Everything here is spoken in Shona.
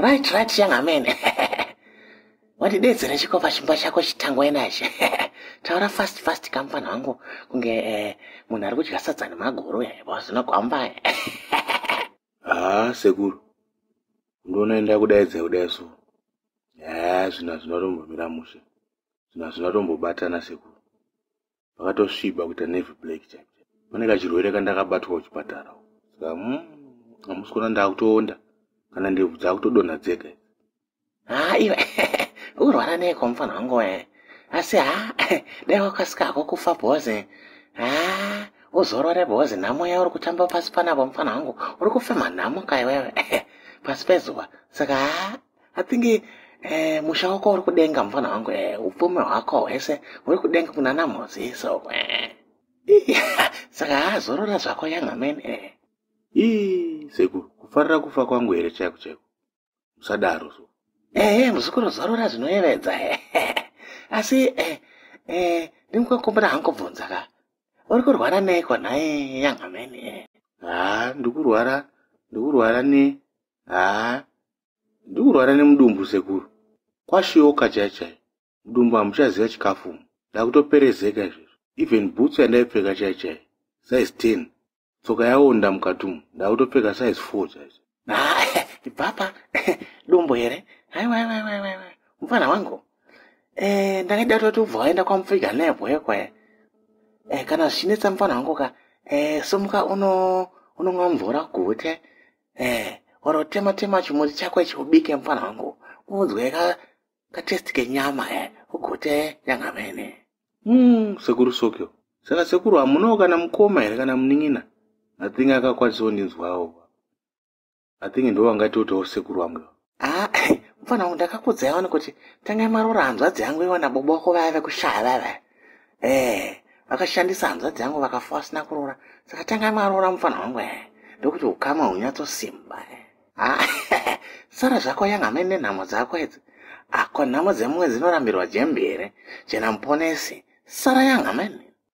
right right young amen wandidedzera chikopa chimba chako chitangwa enachi taura fast fast kamufana wangu kunge eh, munhu ari kudya sadza nemagoro yaiwa zvinogwamba haa sekuru ndoona enda kudaidza kudai so haa zvina zvinotombomira mushe zvina zvinotombobatana sekuru pakatosviba kuita navy black chaipo pane kachirwere kandakabatwa kuchipatara saka mm, hamusi kuona ndakutoonda kana ndebvu dzakutodonha dzega haa iwe urwara neiko mufana wangu we asi ha dai wakasika hako kufa bhozi ha uzorore bhozi nhamo yauri kutamba pasi panapo mufana wangu uri kufema nhamo kaiwewe pasi pezuva saka ha i think eh, musha wako uri kudenga mfana wangu eh, upfumi hwako hwese huri kudenga kuna namhozi so eh. saka haazorora zvako yangamen eh. ii sekuru kufarira kufa kwangu here chaiko chaiko musadaro so ehe eh, muzukuru zorora zvinoyevedza eh. asi eh, eh, ndingukakumbira hangu bvunza ka uri kurwara neiko nhai yangamen eh. haa ndikurwara ndikurwara ne haa ndikurwara nemudumbu sekuru kwashioka chai chai mudumbu hamuchaziva chikafu umu ndakutoperezeka izvezvo even bhutsu yandaipfeka chai chai size ten tsoka yaonda mukati umu ndakutopfeka size four chaicho ibvapa dumbu here haiwaiwaiwaiwai mufana wangu eh, ndakaida toti ubva waenda kwamupfiga nebho yekwaye eh, kana zvichinetsa mufana wangu ka eh, somuka uno unonwa mvura gute eh wanotema tema chimuti chako ichi ubike mfana wangu unzwe ka katesti kenyama eh ugote nyanga mene mm sekuru sokyo saka sekuru hamunawo kana mukoma here kana munin'ina i think akakwanisawo ndinzwawo i think ndovangatiotawo sekuru wangu haa ah, mfana wangu ndakakudza yawani kuti tangai marora hanzvadzi yangu iwana bobo wako vaya vekushaya vaya vaya ee vakashandisa hanzvadzi yangu vakafa vasina kuroora saka tangai marora mfana wangu ee ndokuti ukama hunyatsosimba ee ah, sara zvako yanga amai nenhamo dzako idzi ako ah, nhamo dzemumwe dzinorambirwa jembi here jena muponesi sara yanga amai